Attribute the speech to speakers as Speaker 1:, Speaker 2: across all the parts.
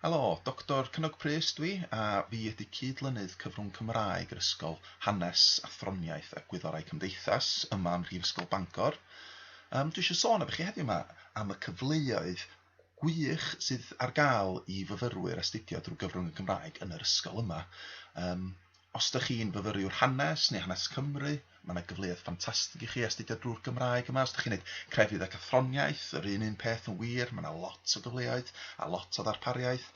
Speaker 1: Helo, Doctor Cynog Prys dw i a fi ydy cyd-lynydd cyfrwng Cymraeg yr ysgol Hanes, Athroniaeth a Gwyddorau Cymdeithas yma ym Mhrifysgol Bangor. Yym dwi eisiau sôn efo chi heddiw yma am y cyfleoedd gwych sydd ar gael i fyfyrwyr astudio drwy gyfrwng y Gymraeg yn yr ysgol yma. Yym Os dych chi'n fyfyriwr hanes neu hanes Cymru, mae yna gyfleoedd ffantastig i chi astudio drwy'r Gymraeg yma. Os dych chi'n neud crefydd ac athroniaeth, yr un un peth yn wir, mae yna lot o gyfleoedd a lot o ddarpariaeth.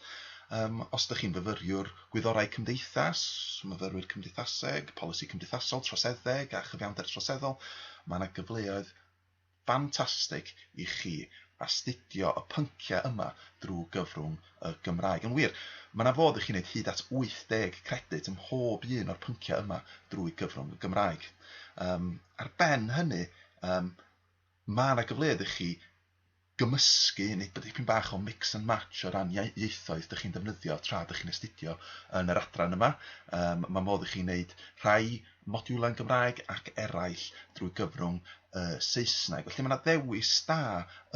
Speaker 1: Um, os dych chi'n fyfyriwr gwyddorau cymdeithas, myfyrwyr cymdeithaseg, polisi cymdeithasol, troseddeg a chyfiawnder troseddol, mae yna gyfleoedd ffantastig i chi astudio y pynciau yma drwy gyfrwng y Gymraeg. Yn wir, mae yna fodd i chi wneud hyd at 80 credyd ym mhob un o'r pynciau yma drwy gyfrwng y Gymraeg. Um, ar ben hynny, um, mae yna gyfleoedd i chi gymysgu neu bod dipyn bach o mix and match o ran ieithoedd dych chi'n defnyddio tra dych chi'n astudio yn yr adran yma. Um, mae modd i chi wneud rhai modiwlau'n Gymraeg ac eraill drwy gyfrwng y Saesneg. Felly mae 'na ddewis da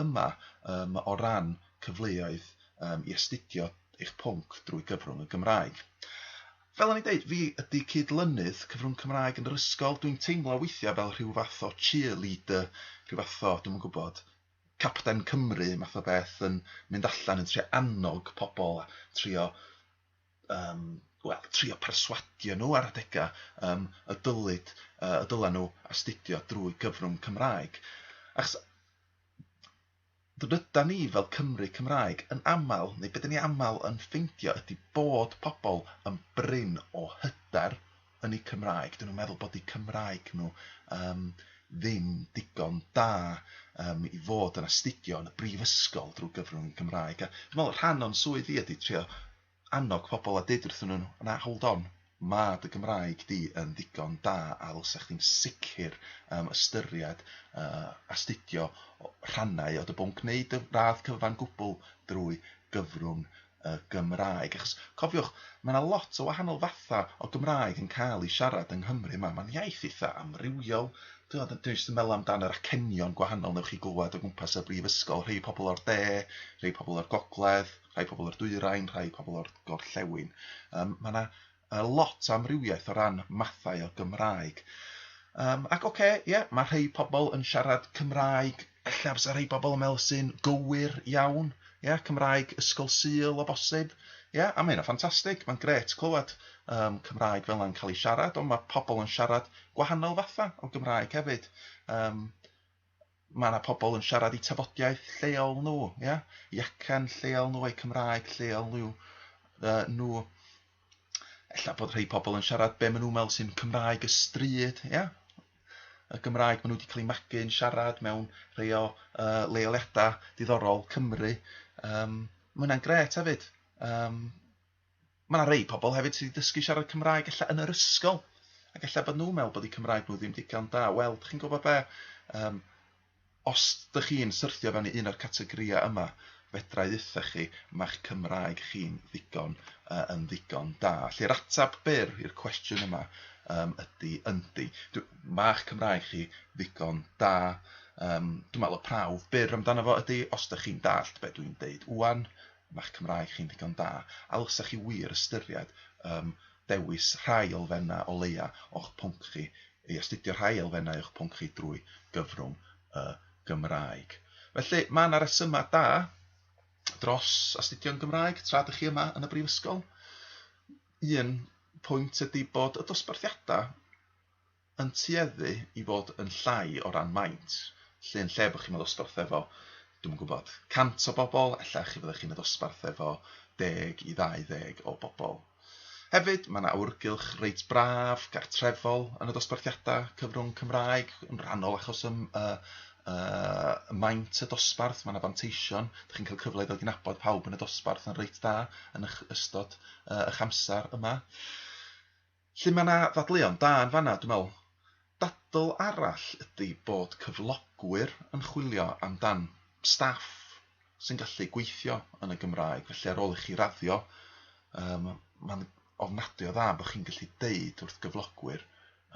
Speaker 1: yma yym o ran cyfleoedd yym i astudio eich pwnc drwy gyfrwng y Gymraeg. Fel o'n i'n deud, fi ydy cyd-lynydd cyfrwng Cymraeg yn yr ysgol, dwi'n teimlo weithiau fel rhyw fath o cheerleader, rhyw fath o, dwi'm yn gwybod, Capten Cymru math o beth yn mynd allan yn trio annog pobl a trio um, wel, trio perswadio nhw ar adegau um, y dylid, uh, y dylen nhw astudio drwy gyfrwng Cymraeg. Achos dyda ni fel Cymru Cymraeg yn aml, neu beth ni aml yn ffeindio ydy bod pobl yn brin o hyder yn eu Cymraeg, dyn nhw'n meddwl bod eu Cymraeg nhw um, ddim digon da um, i fod yn astudio yn y brifysgol drwy gyfrwng y Cymraeg. A dwi'n meddwl rhan o'n swydd i ydy trio annog pobl a deud wrthyn nhw, na, hold on, mae dy Gymraeg di yn ddigon da a ddylsa chdi'n sicr um, ystyried uh, astudio rhannau o dy bwnc neu dy radd cyfan gwbl drwy gyfrwng y Gymraeg. Achos, cofiwch, mae yna lot o wahanol fathau o Gymraeg yn cael ei siarad yng Nghymru yma. Mae'n iaith eitha' amrywiol. Dwi ond yn dwi jyst yn meddwl amdan yr acenion gwahanol wnewch chi glywed o gwmpas y brifysgol. Rhei pobl o'r de, rhei pobl o'r gogledd, rhai pobl o'r dwyrain, rhai pobl o'r gorllewin. Yym, mae yna A lot o amrywiaeth o ran mathau o Gymraeg. Yym, ac ocê, ie, ma' rhei pobl yn siarad Cymraeg, ella bysa rhei pobl yn meddwl sy'n gywir iawn, ie, Cymraeg Ysgol Sul o bosib, ie, a ma' hynna'n ffantastig, ma'n grêt clywed yym Cymraeg fel 'na'n cael ei siarad, ond ma' pobl yn siarad gwahanol fathau o Gymraeg hefyd. Yym. mae yna pobl yn siarad i tafodiaeth lleol nhw, ia? i acen lleol nhw, eu Cymraeg lleol nhw. Uh, nhw. Ella bod rhai pobl yn siarad be maen nhw'n meddwl sy'n Cymraeg y stryd, ia? y Gymraeg maen nhw wedi cael ei magu yn siarad mewn rhai o uh, leoliadau diddorol Cymru. Um, mae hwnna'n gret hefyd. Um, Mae 'na rei pobl hefyd sydd 'di dysgu siarad Cymraeg ella yn yr ysgol ac ella bod nhw'n meddwl bod eu Cymraeg nhw ddim digon da. Wel, dych chi'n gwybod be? Yym, os dych chi'n syrthio fewn i un o'r categorïau yma, fedra i ddeutha chi, mae'ch Cymraeg chi'n ddigon uh, yn ddigon da. Felly'r atab byr i'r cwestiwn yma um, ydy yndi. Mae'ch Cymraeg chi ddigon da. Um, dwi'n meddwl y prawf byr amdano fo ydy, os dych chi'n dallt be dwi'n deud, wan, ma'ch Cymraeg chi'n ddigon da, a ddylsa chi wir ystyried yym dewis rhai elfennau o leia' o'ch pwnc chi, neu astudio rhai elfennau o'ch pwnc chi drwy gyfrwng y Gymraeg. Felly, ma' 'na resymau da dros astudio'n Gymraeg tra dych chi yma yn y Brifysgol. Un pwynt ydy bod y dosbarthiadau yn tueddu i fod yn llai o ran maint, lle yn lle bod chi'n y ddosbarth efo, dwi'm yn gwybod, 100 o bobl, ella chi fyddech chi'n y ddosbarth efo 10 i 20 o bobl. Hefyd, mae yna awyrgylch reit braf, gartrefol, yn y dosbarthiadau cyfrwng Cymraeg, yn rhannol achos y, y, y, y maint y dosbarth, mae yna fanteision, ydych chi'n cael cyfle i ddod i nabod pawb yn y dosbarth yn reit dda yn ystod uh, eich amser yma. Lly mae yna ddadleuon da yn fan'na dwi'n meddwl. Dadl arall ydy bod cyflogwyr yn chwilio amdan staff sy'n gallu gweithio yn y Gymraeg, felly ar ôl i chi raddio yym mae'n ofnadwy o dda bod chi'n gallu deud wrth gyflogwyr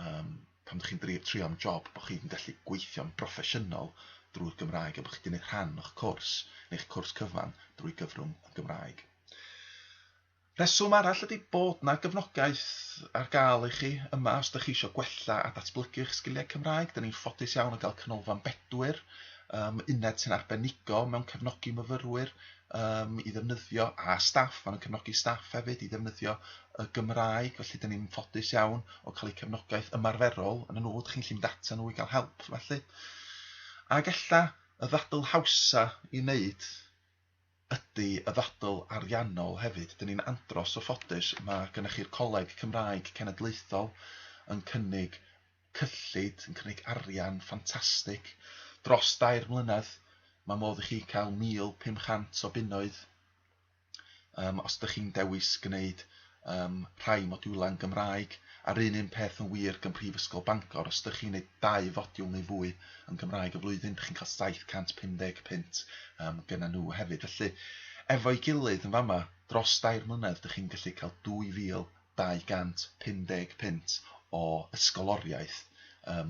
Speaker 1: yym pan dych chi'n dri- trio am job bod chi'n gallu gweithio'n broffesiynol drwy'r Gymraeg a bod chi wedi gwneud rhan o'ch cwrs neu'ch cwrs cyfan drwy gyfrwng y Gymraeg. Rheswm arall ydy bod 'na gefnogaeth ar gael i chi yma os dych chi eisiau gwella a datblygu eich sgiliau Cymraeg. Dyn ni'n ffodus iawn o gael Canolfan Bedwyr, um, uned sy'n arbenigo mewn cefnogi myfyrwyr um, i ddefnyddio, a staff, maen nhw'n cefnogi staff hefyd i ddefnyddio y Gymraeg, felly dyn ni'n ffodus iawn o cael eu cefnogaeth ymarferol yn y nhw, dych chi'n llun data nhw i gael help felly. Ac ella y ddadl hawsa i wneud ydy y ddadl ariannol hefyd. Dyn ni'n andros o ffodus, mae gennych chi'r Coleg Cymraeg Cenedlaethol yn cynnig cyllid, yn cynnig arian ffantastig. Dros dair mlynedd, mae modd i chi cael 1,500 o bunnoedd, yym, os dych chi'n dewis gwneud ym rhai modiwlau yn Gymraeg, a'r un un peth yn wir gym Mhrifysgol Bangor, os ydych chi'n gwneud dau fodiwl neu fwy yn Gymraeg y flwyddyn, dych chi'n cael 750 punt ym gyda nhw hefyd. Felly, efo'i gilydd yn fama, dros dair mlynedd dych chi'n gallu cael 2250 punt o ysgoloriaeth ym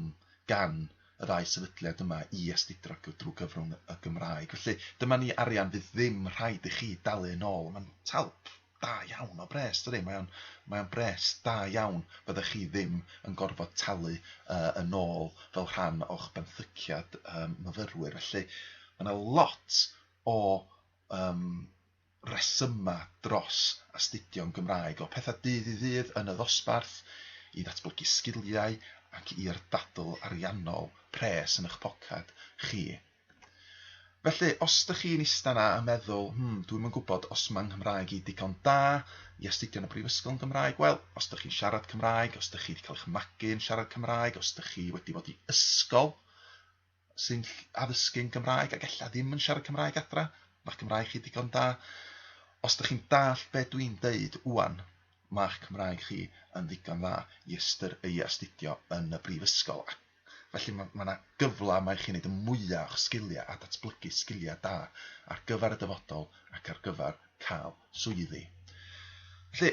Speaker 1: gan y ddau sefydliad yma i astudro drwy gyfrwng y Gymraeg. Felly, dyma ni arian fydd ddim rhaid i chi dalu yn ôl, mae'n talp! Da iawn, mae'n bres dydi? Mae o'n mae o'n bres da iawn, fyddech chi ddim yn gorfod talu uh, yn ôl fel rhan o'ch benthyciad um, myfyrwyr. Felly mae yna lot o um, resyma dros astudio'n Gymraeg, o pethau dydd i ddydd yn y ddosbarth, i ddatblygu sgiliau ac i'r dadl ariannol pres yn eich pocad chi. Felly, os dych chi'n ista 'na a meddwl, hmm, dwi'm yn gwybod os mae 'nghymraeg i digon da i astudio yn y brifysgol yn Gymraeg, wel, os dych chi'n siarad Cymraeg, os dych chi wedi cael eich magu yn siarad Cymraeg, os dych chi wedi bod i ysgol sy'n addysgu'n Gymraeg ac ella ddim yn siarad Cymraeg adra, mae'ch Cymraeg chi digon da. Os dych chi'n dallt be dwi'n deud ŵan, mae'ch Cymraeg chi yn ddigon dda i ystyr- i astudio yn y brifysgol. Felly mae mae 'na gyfle yma i chi wneud y mwya' o'ch sgiliau a datblygu sgiliau da ar gyfer y dyfodol ac ar gyfer cael swyddi. Felly,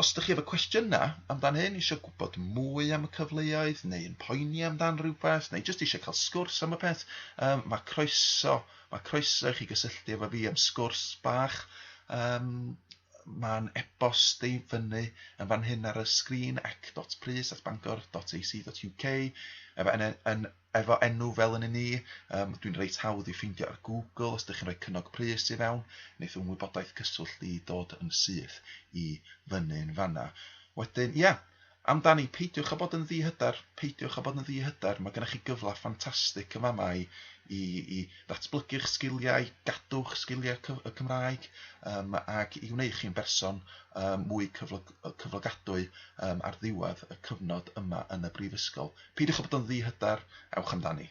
Speaker 1: os dych chi efo cwestiynau amdan hyn, eisiau gwybod mwy am y cyfleoedd neu yn poeni amdan rhywbeth neu jyst eisiau cael sgwrs am y peth, um, mae croeso, mae croeso i chi gysylltu efo fi am sgwrs bach um, Mae'n e-bost i fyny yn fan hyn ar y sgrin, ec.prys@bangor.ac.uk, efo en- en- efo enw fel yn ni. Um, dwi'n reit hawdd i ffeindio ar Google os ydych chi'n rhoi cynnog pris i fewn, wneith fy wybodaeth cyswllt i dod yn syth i fyny'n fanna. Wedyn, ia, Amdani, peidiwch â bod yn ddi-hyder, peidiwch â bod yn ddi-hyder, mae gennych chi gyfle ffantastig yn fama i i i ddatblygu'ch sgiliau, i gadw'ch sgiliau cyf- y Cymraeg yym ac i wneud chi'n berson yym mwy cyflog- yy cyflogadwy yym ar ddiwedd y cyfnod yma yn y brifysgol. Peidiwch â bod yn ddi-hyder, ewch amdani.